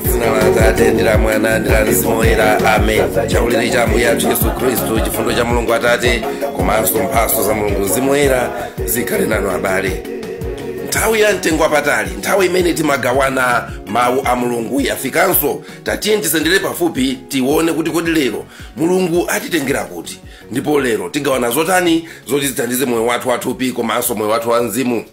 dzina la atate ndi la mwana ndi la mzimu woyera amen chaulere cha ambuye athu yesu khristu chifundo cha mulungu atate komanso mphatso za mulungu mzimu woyera zikhale nanu abale nthawi ya mtengo wapatali nthawi imene timagawana mawu a mulungu yafikanso tatiye tisendere pafupi tione kuti kodi lero mulungu atitengera kuti ndipo lero tigawana zotani zoti zithandize moyo wathu wathupi komanso moyo wathu wa mzimu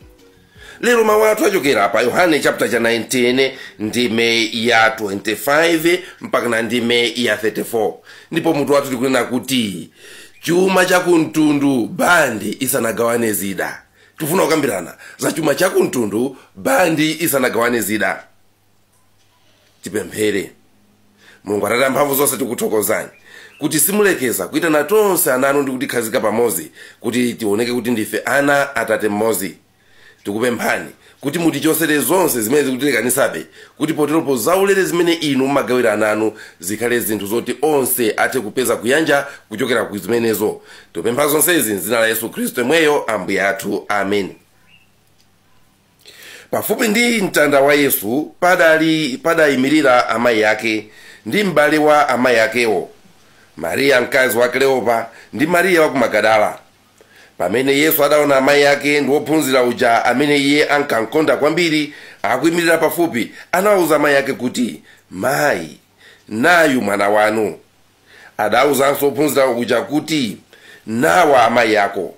lero mawu athu achokera pa yohane chapter 19 ndime ya 25 mpaka na ndime ya 34 ndipo mutu wathu tikunena kuti chuma chakumtundu bandi isanagawane zida tifuna kukambirana za chuma chakumtundu bandi isanagawane zida tipemphere mulungu atate amphamvu zonse tikuthokozani kuti simulekeza kuitana tonse ana anu ndi kutikhazika pamodzi kuti tioneke kuti ndife ana atate mmodzi tikupemphani kuti mutichotsere zonse zimene zikutilekanitsabe kuti poteropo zaulere zimene inu mumagawira ana anu zikhale zinthu zoti onse athe kupeza kuyanja kuchokera ku zimenezo tikupempha zonsezi mdzina la yesu khristu yemweyo ambuye athu amen pafupi ndi mtanda wa yesu padayimirira amayi ake ndi m'bale wa amayi akewo mariya mkazi wa kleopa ndi mariya wa ku magadala pamene yesu adaona amayi ake ndi wophunzira uja amene iye ankamkonda kwambiri akuyimirira pafupi anawuza amayi ake kuti mayi nayu mwana wanu adawuzanso wophunzira uja kuti nawa amayi ako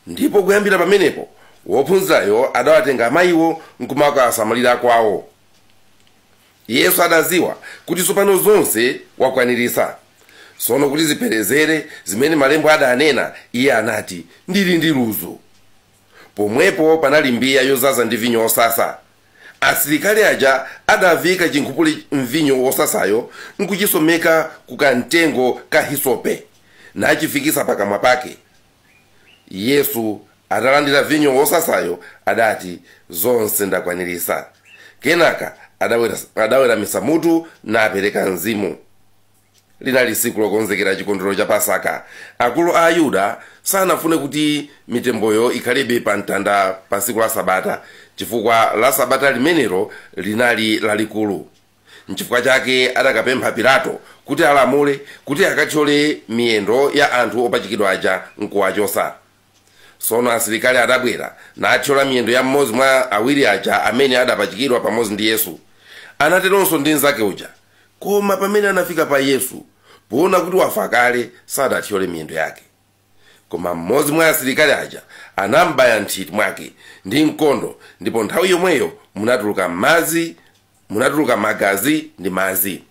ndipo kuyambira pamenepo wophunzirayo adawatenga amayiwo nkumakawasamalira kwawo yesu adaziwa kuti tsopano zonse wakwaniritsa tsono kuti zipherezere zimene malembo adanena iye anati ndili ndi ludzu pomwepo panali mbiya yodzaza ndi vinyo wosasa asilikali aja adaviika chinkhupule mvinyo wosasayo nkuchitsomeka ku kamtengo ka hisope nachifikitsa pakamwa pake Yesu atalandira vinyo wosasayo adati, Zonse ndakwaniritsa. Kenaka adaweramitsa mutu napereka mzimu. Linali tsiku lokonzekera chikondwerero cha Pasaka. Akulu a Ayuda sanafune kuti mitemboyo ikhalebe pa mtanda pa tsiku la Sabata, chifukwa la Sabata limenelo linali lalikulu. Nchifukwa chake adakapempha Pilato kuti alamule kuti akathyole miyendo ya anthu opachikidwa aja, nkuwachotsa. Tsono asilikali adabwera, nathyola miyendo ya mmodzi mwa awiri aja amene adapachikidwa pamodzi ndi Yesu. Anateronso ndi mnzake uja. Koma pamene anafika pa Yesu, poona kuti wafa kale, sadathyole miyendo yake. Koma mmodzi mwa asilikali aja anambaya m'nthiti mwake ndi mkondo, ndipo nthawi yomweyo munatuluka madzi. munatuluka magazi ndi madzi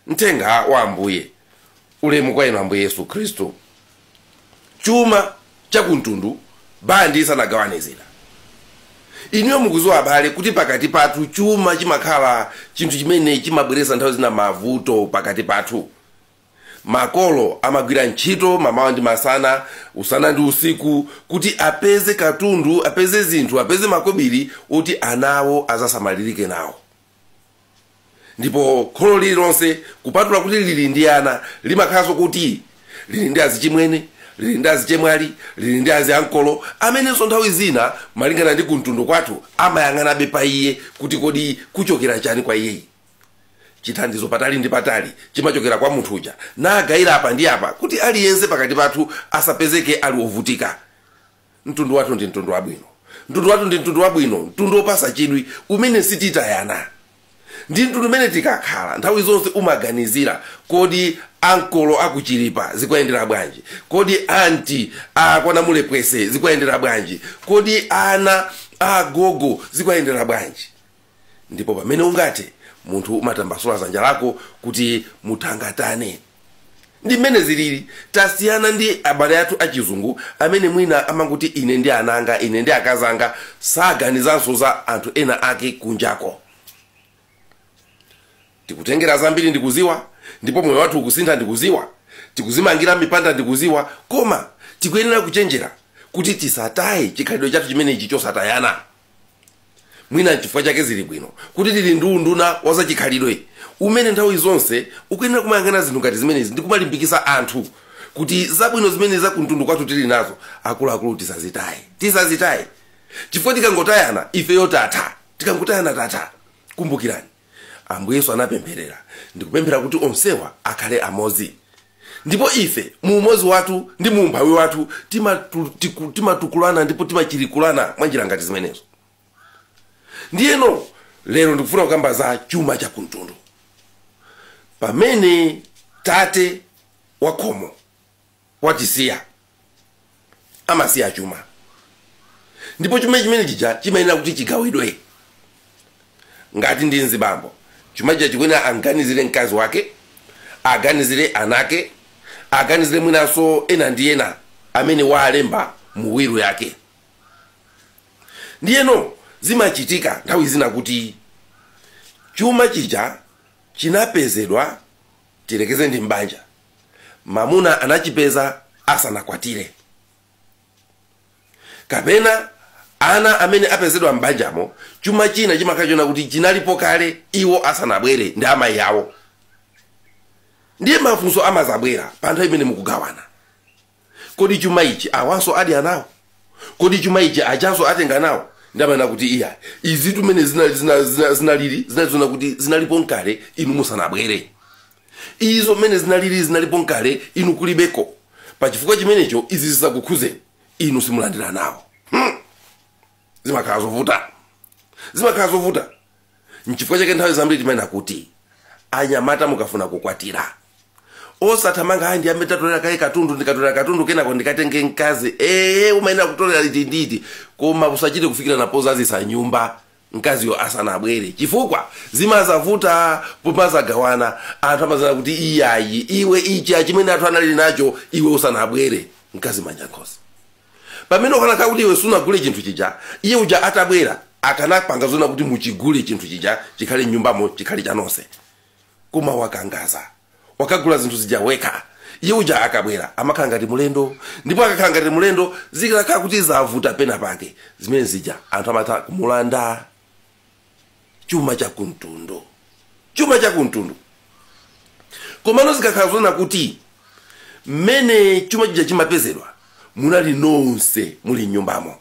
mthenga wa ambuye ulemu kwa inu ambuye yesu khristu chuma chakumtundu bandi isanagawane zida inuyo mukuziwa abale kuti pakati pathu chuma chimakhala chinthu chimene chimabweretsa nthawi zina mavuto pakati pathu Makolo amagwira ntchito mamawa ndi masana, usana ndi usiku kuti apeze katundu, apeze zinthu, apeze makobiri oti ana awo azasamalirike nawo. Ndipo kholo lililonse kupatula kuti lili ndi ana, limakhalanso kuti lili ndi azichimwene, lili ndi azichemwali, lili ndi aziankolo amenenso nthawi zina malingana ndi kumtundu kwathu amayang'anabe pa iye kuti kodi kuchokera chani kwa iyeyi. chithandizo patali ndi patali chimachokera kwa munthu uja nagayira apa ndi apa kuti aliyense pakati pathu asapezeke ali ovutika mtundu wathu ndi mtundu wabwino mtundu wathu ndi mtundu wabwino mtundu wopasa chidwi umene sititayana ndi mtundu umene tikakhala nthawi zonse umaganizira kodi ankolo akuchilipa zikuwayendera bwanji kodi anti akwanamulepwese zikuwayendera bwanji kodi ana agogo zikuwayendera bwanji ndipo pamene ungathe munthu umatambasula zanja lako kuti muthangatane ndi mmene zilili tasiyana ndi abale athu achizungu amene mwina amangoti ine ndi ana anga ine ndi akazi anga saganizanso za anthu ena ake kunjako tikutengera zambiri ndikuziwa ndipo moyo wathu ukusintha ndikuziwa tikuzimangira mipanda ndikuziwa koma tikuyenera kuchenjera kuti tisataye chikhalidwe chathu chimenechi chosatayana mwina nchifukwa chake zili bwino kuti tili ndi unduna wa zachikhalidwe umene nthawi zonse ukuyenera kumayang'ana zinthu ngati zimenezi ndi kumalimbikitsa anthu kuti zabwino zimene za kumtundu kwathu tili nazo akuluakulu tisazitaye tisazitaye chifukwa tikangotayana ifeyo tatha tikangotayana tatha kumbukirani Ambuye Yesu anapempherera ndi kupemphera kuti onsewa akhale amodzi. Ndipo ife, mu umodzi wathu ndi mu umphawi wathu, timatukulana ndipo timachirikulana mwa njira ngati zimenezo. Ndiyeno lero ndikufuna kukamba za chuma cha kumtundu. Pamene tate wa khomo watisiya amasiya chuma ndipo chuma chimene chija chimayenera kuti chigawidwe ngati ndi mzibambo chuma chija chikuyenera amganizire mkazi wake aganizire anake aganizire mwinanso ena ndi ena amene waalemba mu wiru yake ndiyeno zimachitika nthawi zina kuti chuma chija chinapezedwa tilekeze ndi mbanja mamuna anachipeza asanakwatire kapena ana amene apezedwa m'banjamo chuma china chimakhala chona kuti chinalipo kale iwo asanabwere ndi amayi awo ndiye mafunso amazabwera pa nthawi imene mukugawana kodi chuma ichi awanso adya nawo kodi chuma ichi ajanso atenga nawo ndiye amanena kuti iyayi izitu mmene zinali zina- zina- zinalili zinali zona kuti zinalipo nkale inu musanabwere izo mmene zinalili zinalipo nkale inu kulibeko pa chifukwa chimenecho izi zisakukhuzeni inu simulandira nawo Hmm. zimakhala zovuta zimakhala zovuta nchifukwa chake nthawi zambiri timanena kuti anyamata mukafuna kukwatira osathamanga ayi ndiyambe ndatolera kaye katundu ndikatolera katundu kenako ndikatenge mkazi ee umayenera kutolera iti ndi iti koma usachite kufikirana pozazisa nyumba mkaziyo asanabwere chifukwa zimazavuta pomazagawana anthu amazanena kuti iyayi iwe ichi achimene athu anali nacho iwe usanabwere mkazi manja mkhosi pamene ukanakhala kuti iwe sunagule chinthu chija iye uja atabwera akanapanga zona kuti muchigule chinthu chija chikhale mnyumbamo chikhale chanonse koma wakangaza wakagula zinthu zija wekha iye uja akabwera amakhala ngati mulendo ndipo akakhala ngati mulendo zikakhala kuti zavuta pena pake zimene zija anthu amatha kumulanda chuma cha kumtundu chuma cha kumtundu komano zikakhala zonena kuti mmene chuma chija chimapezedwa munali nonse muli mnyumbamo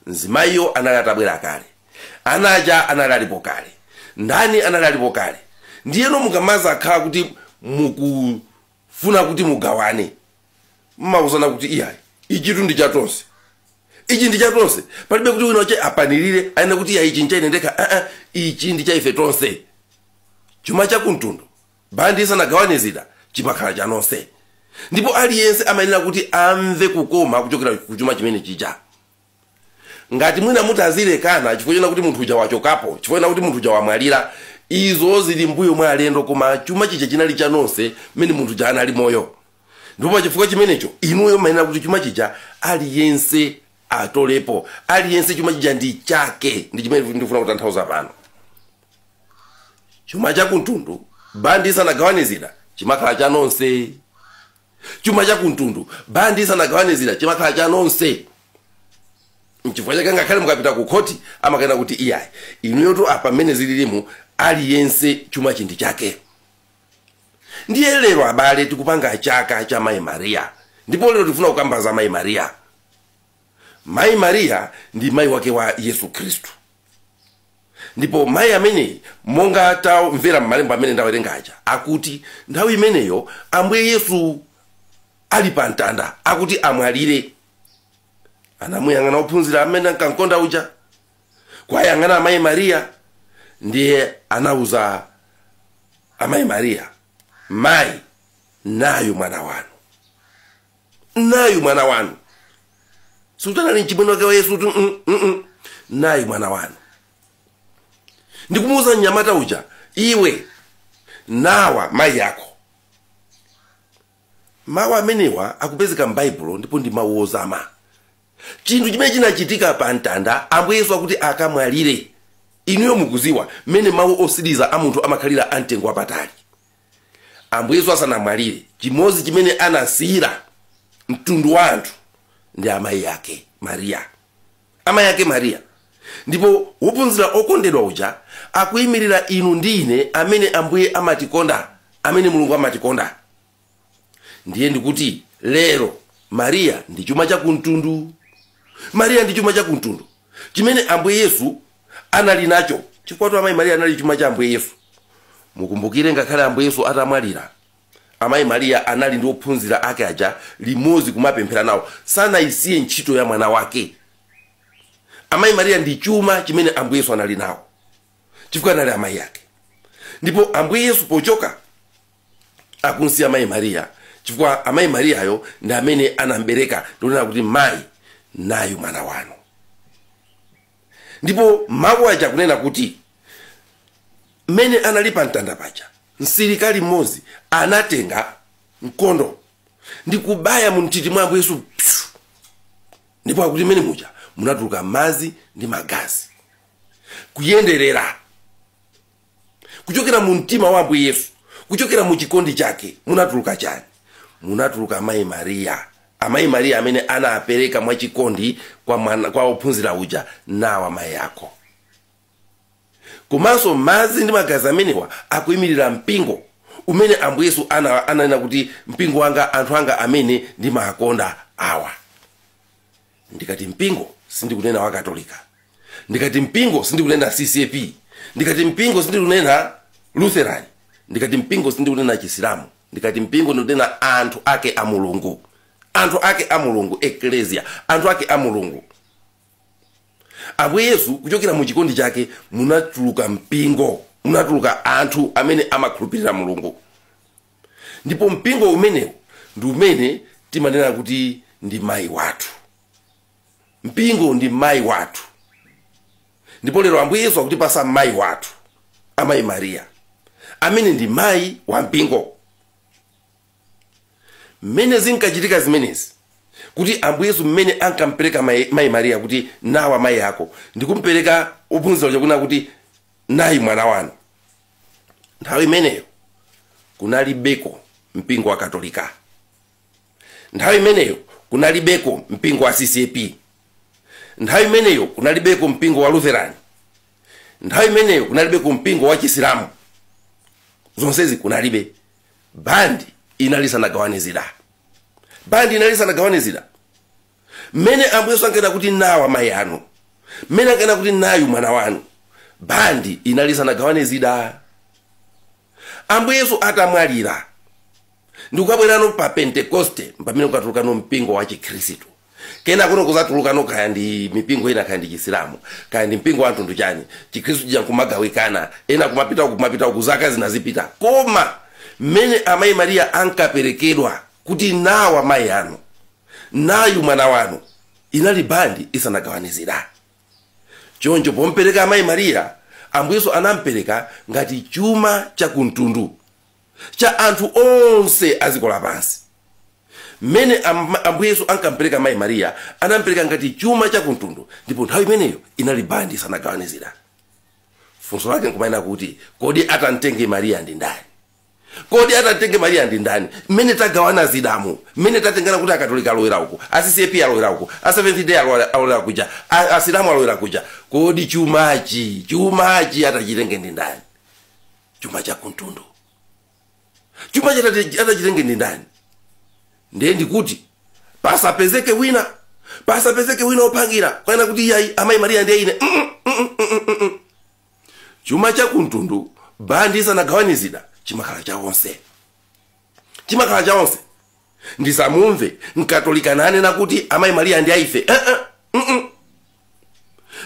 mzimayiyo anali atabwera kale ana aja anali alipo kale ndani anali alipo kale ndiyeno mukamazakhala kuti mukufuna kuti mugawane mmauzana kuti iyayi ichitu ndi cha tonse ichi ndi cha tonse palibe kuti wina wache apanilire anena kuti iyayi ichi nchaine ndekha aa ichi ndi cha ife tonse chuma cha kumtundu bandi isanagawane zida chimakhala cha nonse ndipo aliyense amayenera kuti amve kukoma kuchokera ku chuma chimene chija ngati mwina mutazilekana chifukwa chona kuti munthu uja wachokapo chifukwa chona kuti munthu uja wamwalira izo zili mbuyo mwa alendo koma chuma chija chinali cha nonse mmene munthu uja anali moyo ndipo pa chifukwa chimenecho inuyo mmayenera kuti chuma chija aliyense atolepo aliyense chuma chija ndi chake ndi chimene ndikufuna kutanthauza pano chuma cha kumtundu bandi isanagawane zida chimakhala cha nonse chuma cha kumtundu bandi isanagawane zida chimakhala cha nonse nchifukwa chake ngakhale mukapita ku khoti amakanena kuti iyayi inuyotu apa mmene zililimu aliyense chumachi ndi chake ndiye lero abale tikupanga chaka cha mayi mariya ndipo lero tikufuna kukamba za mayi mariya mayi mariya ndi mayi wake wa yesu khristu ndipo mayi ameneyi monga tamvera m'malembo amene ndawerenga aja akuti nthawi imeneyo ambuye yesu ali pa mtanda akuti amwalire anamuyang'ana ophunzira amene ankamkonda uja kwayang'ana amayi mariya ndiye anauza amayi mariya mayi nayu mwana wanu nayu mwana wanu sikutanali mchimwene wake wa yesu kuti "Mm, mm, mm. nayu mwana wanu ndikumuuza mnyamata uja iwe nawa mayi ako mawu amenewa akupezeka m'baibulo ndipo ndi mawu ozama chinthu chimene chinachitika pa mtanda ambuye yesu akuti akamwalire inuyo mukuziwa mmene mawu otsiriza a munthu amakhalira amtengo wapatali ambuye yesu asanamwalire chimodzi chimene anasiyira mtundu wa anthu ndi amayi ake mariya amayi ake mariya ndipo wophunzira okondedwa uja akuyimirira inu ndi ine amene ambuye amatikonda amene mulungu amatikonda ndiye ndikuti lero mariya ndi chuma chakumtundu mariya ndi chuma chakumtundu chimene ambuye yesu anali nacho, chifukwatu Amayi Maria anali chuma cha Ambuye Yesu. Mukumbukire ngakhale Ambuye Yesu atamwalira, Amayi Maria anali ndi ophunzira ake aja limodzi kumapemphera nawo. Sanayisiye ntchito ya mwana wake. Amayi Maria ndi chuma chimene Ambuye Yesu anali nawo chifukwa anali amayi ake. Ndipo Ambuye Yesu pochoka akumsiya Amayi Maria chifukwa Amayi Mariayo ndi amene anambereka ndikunena kuti mayi nayu mwana wanu. ndipo mawu aja akunena kuti mmene anali pa mtanda paja msilikali mmodzi anatenga mkondo ndi kubaya mu nthiti mwa ambuye yesu psu. ndipo akuti m'mene muja munatuluka madzi ndi magazi kuyenderera kuchokera mu mtima wa ambuye yesu kuchokera mu chikondi chake munatuluka chani munatuluka amayi mariya amayi mariya amene anapereka mwachikondi kwa, mwana- kwa ophunzira uja nawa amayi ako komanso madzi ndi magazi amenewa akuyimirira mpingo umene ambuye yesu ana- ananena kuti mpingo wanga anthu anga amene ndimakonda awa ndikati mpingo sindikunena wa katolika ndikati mpingo sindikunena ccap ndikati mpingo sindikunena lutheran ndikati mpingo sindikunena chisilamu ndikati mpingo ndikunena anthu ake a mulungu anthu ake a mulungu eklesia anthu ake a mulungu ambuye yesu kuchokera mu chikondi chake munatuluka mpingo munatuluka anthu amene amakhulupirira mulungu ndipo mpingo umenewu ndi umene timanena kuti ndi mayi wathu mpingo ndi mayi wathu ndipo lero ambuye yesu akutipasa mayi wathu amayi mariya amene ndi mayi wa mpingo mmene zinkachitika zimenezi kuti ambuye yesu mmene ankampereka mayi mariya kuti nawa mayi ako ndikumpereka ophunzira ujaku nena kuti nayu mwana wanu nthawi imeneyo kunalibeko mpingo wa katolika nthawi imeneyo kunalibeko mpingo wa ccap nthawi imeneyo kunalibeko mpingo wa lutheran nthawi imeneyo kunalibeko mpingo wa chisilamu zonsezi kunalibe bandi inali isanagawane zida bandi inali isanagawane zida mmene ambuye yesu ankanena kuti nawa mayi anu mmene ankanena kuti nayu mwana wanu bandi inali isanagawane zida ambuye yesu atamwalira ndikukabwerano pa pentekoste pamene kukatulukano mpingo wa chikhristu kenakono kuzatulukano kaya ndi mipingo ina kaya ndi chisilamu kaya ndi mpingo wa mtundu chani chikhristu chija kumagawikana ena kumapita uku kumapita uku zaka zinadzapita koma mmene amayi mariya ankaperekedwa kuti nawa mayi anu Nayu mwana wanu. Inali bandi isanagawane zida. Choncho pompereka Amayi Maria, Ambuye Yesu anampereka ngati chuma cha ku mtundu, cha anthu onse a dziko lapansi. Mmene Am- Ambuye Yesu ankampereka Amayi Maria, anampereka ngati chuma cha ku mtundu, ndipo nthawi imeneyo inali bandi isanagawane zida. Funso lake nkumanena kuti, kodi atamtenge Maria ndi ndani? kodi atamtenge mariya ndi ndani mmene tagawana zidamu mmene tatengana kuti akatolika alowera uku a ccap alowera uku a seventh day alowa- alowera kuja a- asilamu alowera kuja kodi chumachi chumachi atachitenge ndi ndani chuma cha kumtundu chuma chati- atachitenge ndi ndani ndiye ndikuti pasapezeke wina pasapezeke wina opangira kunena kuti iyayi amayi mariya ndiye ine mm, mm, mm, mm, mm, mm. chuma cha kumtundu bandi isanagawane zida chimakhala cha onse chimakhala cha onse ndisamumve mkatolika nanena kuti amayi mariya ndi aife Eh, eh, mm, mm.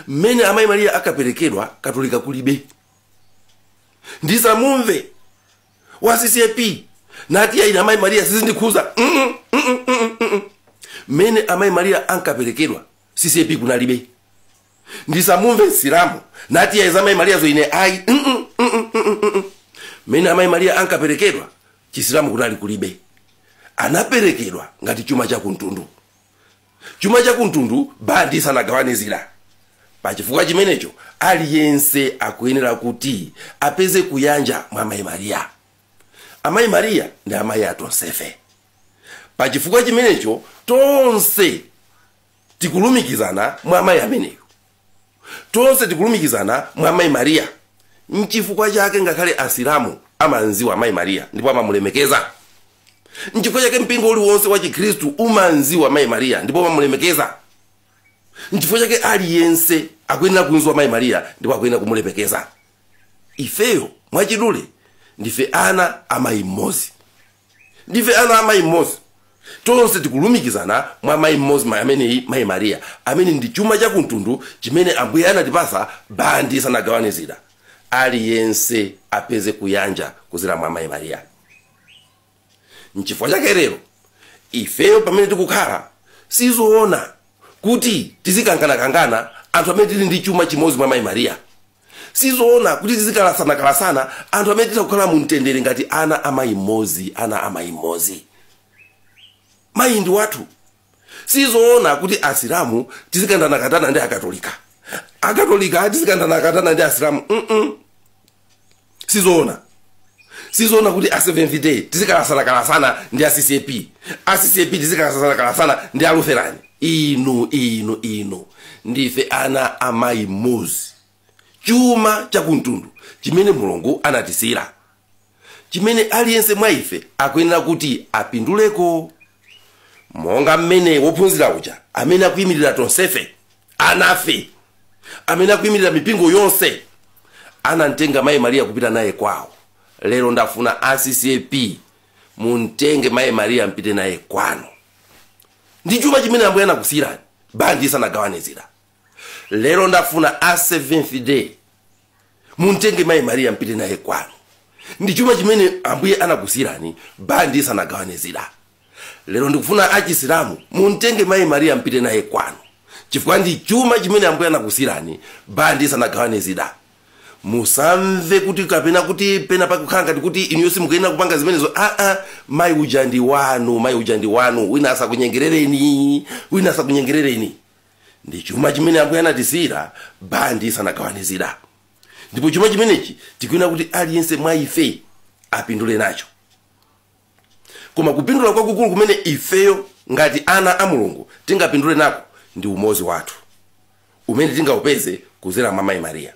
mmene amayi mariya ankaperekedwa katolika kulibe ndisamumve wa ccap nati iyayi ine amayi mariya sizindikhuza Mm, mm, mm, mm, mm, mm, mm. mmene amayi mariya ankaperekedwa ccap kunalibe ndisamumve msilamu nati ya za mayi mariyazo ine ayi mm -mm, mm -mm, mm -mm, mm. mmene amayi mariya ankaperekedwa chisilamu kunali kulibe anaperekedwa ngati chuma chakumtundu chuma chakumtundu bandi isanagawane zida pachifukwa chimenecho aliyense akuyenera kuti apeze kuyanja mwa amayi mariya amayi mariya ndi amayi atonsefe pachifukwa chimenecho tonse tikulumikizana mwa amayi ameneyo tonse tikulumikizana mwa amayi mariya nchifukwa chake ngakhale asilamu amamziwa amayi mariya ndipo amamulemekeza nchifukwa chake mpingo uliwonse wa chikhristu umamziwa amayi mariya ndipo amamulemekeza nchifukwa chake aliyense akuyenera kunziwa amayi mariya ndipo akuyenera kumulemekeza ifeyo mwachidule ndife ana amayi mmodzi Ndife ana a mayi mmodzi. Tonse tikulumikizana mwa mayi mmodzi ameneyi, mayi Mariya, amene ndi chuma cha kumtundu chimene Ambuye anatipasa bandi isanagawane zida. Aliyense apeze kuyanja kuzera mwa mayi Mariya. Nchifukwa chake lero ifeyo pamene tikukhala sizoona kuti tizikanganakangana anthu amene tili ndi chuma chimodzi mwa mayi Mariya. sizoona kuti tizikalasana-kalasana anthu amene titha kukhala mu mtendere ngati ana a mayi mmodzi ana a mayi mmodzi mayi ndi wathu sizoona kuti asilamu tizikandanakatana ndi akatolika akatolika tizikandanakatana ndi asilamu mm -mm. sizoona sizoona kuti a seventh day tizikalasana-kalasana ndi a ccap a ccap tizikalasana-kalasana ndi a lutheran inu inu inu ndife ana a mayi mmodzi chuma chakumtundu chimene mulungu anatisiyira chimene aliyense mwa ife akuyenera kuti apinduleko monga mmene wophunzira uja amene akuyimirira tonsefe Anafe amene akuimirira mipingo yonse anamtenga Mayi Maria kupita naye kwawo. Lero ndafuna a CCAP mumtenge Mayi Maria mpite naye kwanu. Ndi chuma chimene Ambuye anakusiyirani bandi isanagawane zida. Lero ndafuna a Seventh Day mumtenge mayi mariya mpite naye kwanu ndi chuma chimene ambuye anakusiyirani bandi isanagawane zida lero ndikufuna achisilamu mumtenge mayi mariya mpite naye kwanu chifukwa ndi chuma chimene ambuye anakusiyirani bandi isanagawane zida musamve kuti kapena kuti pena pakukhala ngati kuti inuyo simukuyenera kupanga zimenezo aa mayi uja ndi wanu mayi uja ndi wanu wina asakunyengerereni wina asakunyengerereni ndi chuma chimene ambuye anatisiyira bandi isanagawane zida ndipo chuma chimenechi tikuyenera kuti aliyense mwa ife apindule nacho koma kupindula kwakukulu kumene ifeyo ngati ana a mulungu tingapindule nako ndi umozi wathu umene tingaupeze kuzera mwa mayi mariya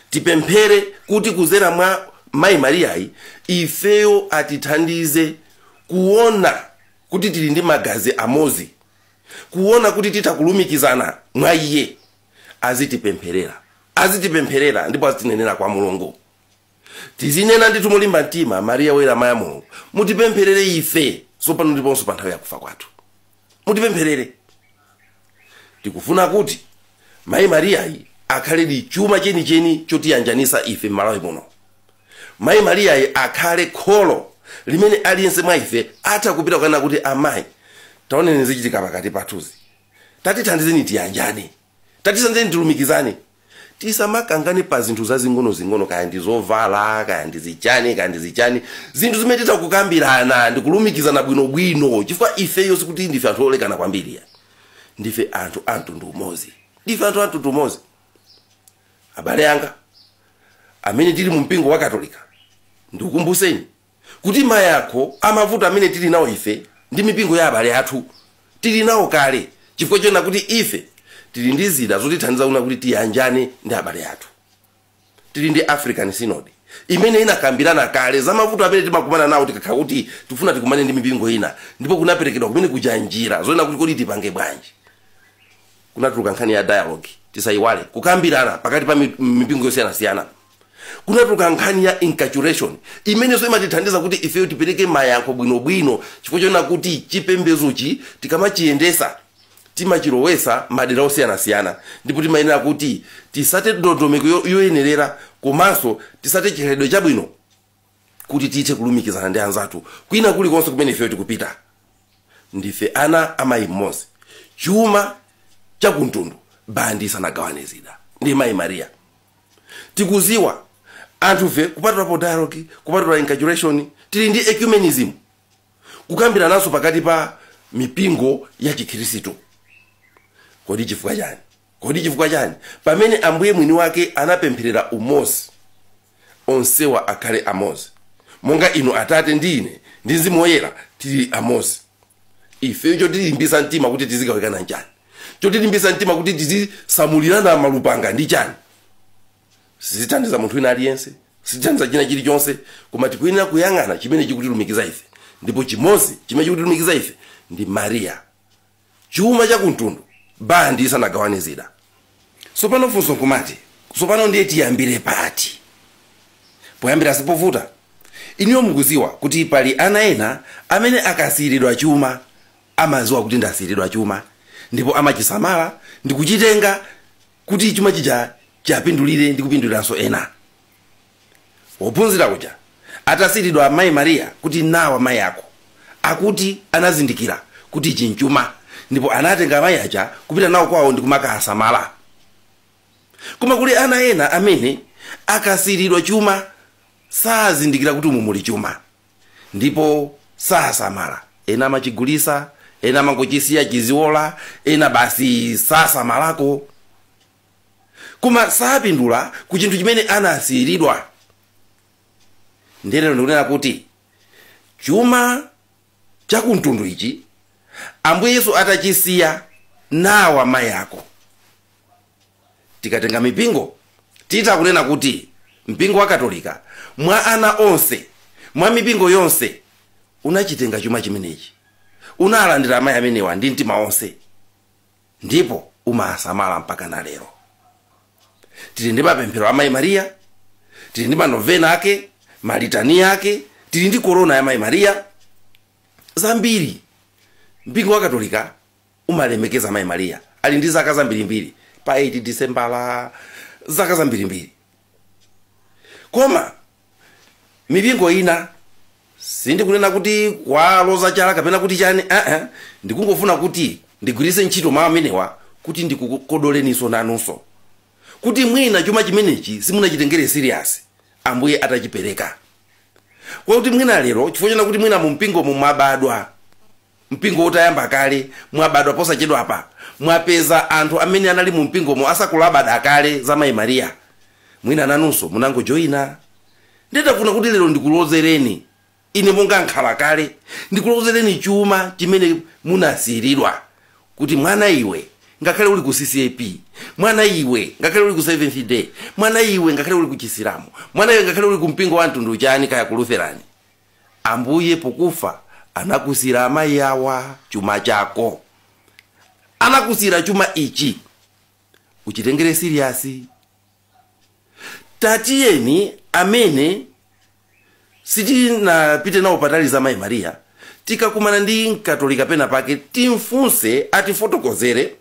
tipemphere kuti kuzera mwa mayi mariyayi ifeyo atithandize kuona kuti tili ndi magazi amozi kuona kuti titha kulumikizana mwa iye azitipempherera azitipempherera ndipo azitinenera kwa mulungu tizinena ndithu molimba mtima mariya woyera mayi wa mulungu mutipempherere ife tsopano ndiponso pa nthawi yakufa kwathu mutipempherere tikufuna kuti mayi mariyayi akhaledi chuma chenicheni chotiyanjanisa ife m'malawi muno Mayi Mariyayi akhale kholo limene aliyense mwa ife atha kupita kukanena kuti, Amayi, taonani zikuchitika pakati pathuzi. Tatithandizeni tiyanjane. Tatithandizeni tilumikizane. Tisamakangane pa zinthu zazing'onozing'ono kaya ndi zovala, kaya ndi zichani, kaya ndi zichani. Zinthu zimene titha kukambirana ndi kulumikizana bwinobwino chifukwa ifeyo sikuti ndife anthu olekana kwambiri. Ndife anthu a mtundu umodzi. Ndife anthu a mtundu umodzi. abale anga amene tili mu mpingo wa katolika ndikukumbuseni kuti mayankho a mavuto amene tili nawo ife ndi mipingo ya abale athu tili nawo kale chifukwa chonena kuti ife tili ndi zida zotithandiza kuona kuti tiyanjane ndi abale athu tili ndi african synod imene inakambirana kale za mavuto amene timakumana nawo tikakhala kuti tifuna tikumane ndi mipingo ina ndipo kunaperekedwa kumene kuja njira zoona kuti kodi tipange bwanji kunatuluka nkhani ya dialogue tisayiwale kukambirana pakati pa mi- mipingo yosiyanasiyana kunatuluka nkhani ya inculturation imenenso imatithandiza kuti ifeyo tipereke mayankho bwinobwino chifukwa chonena kuti chipembezochi tikamachiyendesa timachilowesa madera osiyanasiyana ndipo timayenera kuti tisate ndondomeko yo- yoyenerera komanso tisate chikhalidwe chabwino kuti tithe kulumikizana ndi anzathu kwina kulikonse kumene ifeyo tikupita ndife ana a mayi mmodzi chuma chakumtundu bandi isanagawane zida ndi mayi maria tikuziwa anthufe kupatulapo dialogue kupatula inculturation tili ndi ecumenism kukambirananso pakati pa mipingo ya chikhristu kodi chifukwa chani Kodi chifukwa chani? Pamene Ambuye mwini wake anapempherera umodzi, onsewa akhale amodzi, monga inu Atate ndi ine ndi Mzimu Woyera tili amodzi. Ifeyo chotilimbitsa mtima kuti tizigawikana nchani? Chotilimbitsa mtima kuti tizisamulirana malupanga ndi chani? Sizithandiza munthu wina aliyense, sizithandiza china chilichonse, koma tikuyenera kuyang'ana chimene chikutilumikiza ife, ndipo chimodzi chimene chikutilumikiza ife ndi Maria. chuma cha kumtundu bandi isanagawane zida sopano funso nkumati sopano ndiye tiyambire pati poyambira sipovuta iniyo mukuziwa kuti pali ana ena amene akasiyiridwa chuma amaziwa kuti ndasiyiridwa chuma ndipo amachisamala ndikuchitenga kuti chuma chija chapindulire ndi kupinduliranso ena Wophunzira uja atasiiridwa Mayi Maria kuti nawa mayi ako, akuti anazindikira kuti ichi nchuma ndipo anatenga amayi aja kupita nawo kwawo ndi kumakawasamala. Koma kuli ana ena amene akasiiridwa chuma sazindikira kuti umu muli chuma ndipo sasamala. Ena amachigulitsa, ena amangochisiya chiziola, ena basi sasamalako. koma sapindula ku chinthu chimene anasiyiridwa ndiye lero ndikunena kuti chuma cha kumtundu ichi ambuye yesu atachisiya nawa mayi ako tikatenga mipingo titha kunena kuti mpingo wa katolika mwa ana onse mwa mipingo yonse unachitenga chuma chimenechi unalandira amayi amenewa ndi mtima onse ndipo umasamala mpaka na lero tili ndi mapemphero a mayi mariya tili ndi manovena ake malitani ake tili ndi korona ya mayi mariya zambiri mpingo wa katolika umalemekeza mayi mariya ali ndi zaka zambirimbiri pa 8 disembala zaka zambirimbiri koma mipingo ina sindikunena kuti kuwaloza chala kapena kuti chani aa ndikungofuna kuti ndigwiritse ntchito mawu amenewa kuti ndikukodoleninso nanunso kuti mwina chuma chimenechi simunachitengere serious ambuye atachipereka kwakuti mwina lero chifukwa chona kuti mwina mumpingomu mwabadwa Mpingo utayamba kale, mwabadwa posachedwapa, mwapeza anthu amene anali mu mpingomo asakulabadira kale za Mayi Maria. Mwina nanunso munangojoina. Nditafuna kuti lero ndikulozereni, ine monga m'khala kale, ndikulozereni chuma chimene munasiiridwa, kuti mwana iwe, ngakhale uli ku CCAP, mwana iwe, ngakhale uli ku Seventh Day, mwana iwe, ngakhale uli ku Chisilamu, mwana iwe, ngakhale uli ku mpingo wa mtundu chani, kaya ku Lutheran. Ambuye pokufa anakusira amayi awa chuma chako anakusira chuma ichi uchitengere serious tatiyeni amene sitinapite nawo patali za mayi Maria tikakumana ndi mkatolika pena pake timfunse atifotokozere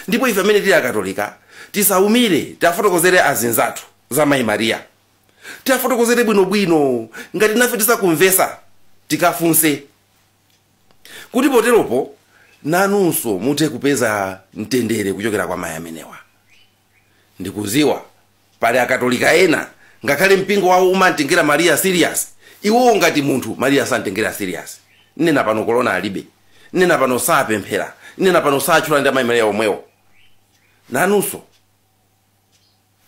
ndipo ife amene tili akatolika tisaumire tiwafotokozere azinzathu za mayi Maria tiafotokozere bwino bwino ngati inafe tisakumvesa tikafunse kuti poteropo nanunso muthe kupeza mtendere kuchokera kwa mayi amenewa ndikuziwa pali akatolika ena ngakhale mpingo wawo umamtengera maria serious iwowo ngati munthu maria samtengera serious nnena pano kolona alibe nnena pano sapemphera nnena pano satchula ndi amayi maria omwewo nanunso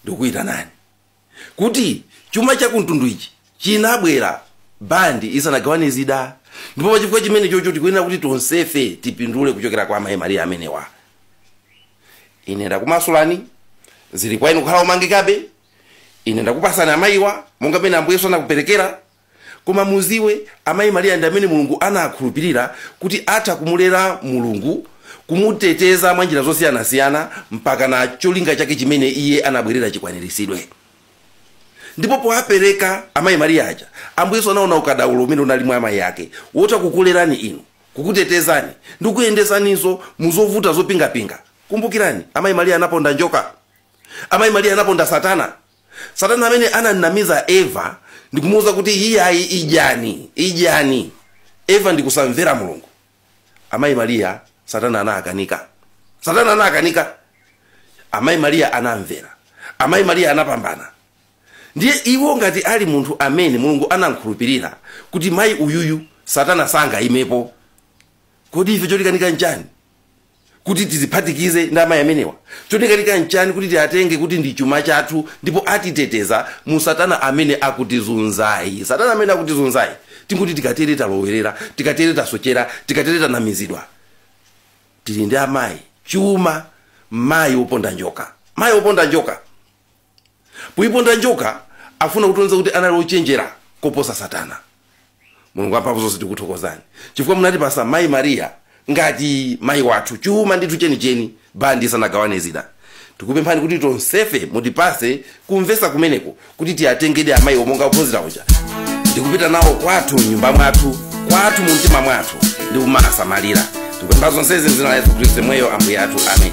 ndikuitanani kuti chuma cha kumtundu ichi chinabwera bandi isanagawane zida ndipo pa chifukwa chimene chocho tikuyenera kuti tonsefe tipindule kuchokera kwa amayi mariya amenewa ine ndakumasulani zili kwa inu kukhala omangikabe ine ndakupasani amayiwa monga mmene ambuye yesu anakuperekera koma muziwe amayi maria ndi amene mulungu anakhulupirira kuti atha kumulera mulungu kumuteteza mwa njira zosiyanasiyana mpaka na cholinga chake chimene iye anabwerera chikwaniritsidwe ndipo powapereka amayi maria aja ambuye yesu anaona ukadaulo umene unali mwa amayi ake wotha kukulerani inu kukutetezani ndi kukuyendesaninso muzovuta zopingapinga kumbukirani amayi maria anaponda njoka amayi maria anaponda satana satana amene anamnamiza eva ndikumuuza kuti iyayi idyani idyani eva ndikusamvera mulungu amayi mariya satana anakanika satana anakanika amayi mariya anamvera amayi mariya anapambana ndiye iwo ngati ali munthu amene mulungu anamkhulupirira kuti mayi uyuyu satana sangayimepo kodi ife chotikanika nchani kuti tiziphatikize ndi amayi amenewa chotikanika nchani kuti tiatenge kuti ndi chuma chathu ndipo atiteteza mu satana amene akutizunzayi satana amene akutizunzayi tinguti tikatere talowerera tikatere tasochera tikatere tanamizidwa tili ndi amayi chuma mayi woponda njoka mayi woponda njoka Poiponda njoka, afuna kutionesa kuti anali ochenjera koposa Satana. Mulungu amphamvu zonse tikuthokozani chifukwa munatipasa Mai Maria ngati mai wathu, chuma ndithu chenicheni bandi isanagawane zida. Tikupemphani kuti tonsefe mutipase kumvesa kumeneko kuti tiatengedi amaiwo monga ophunzira uja ndi kupita nao kwathu m'nyumba mwathu, kwathu mumtima mwathu ndi kumawasamalira. Tikupempha zonsezi m'dzina la Yesu Kristu yemweyo Ambuye athu. Ameni.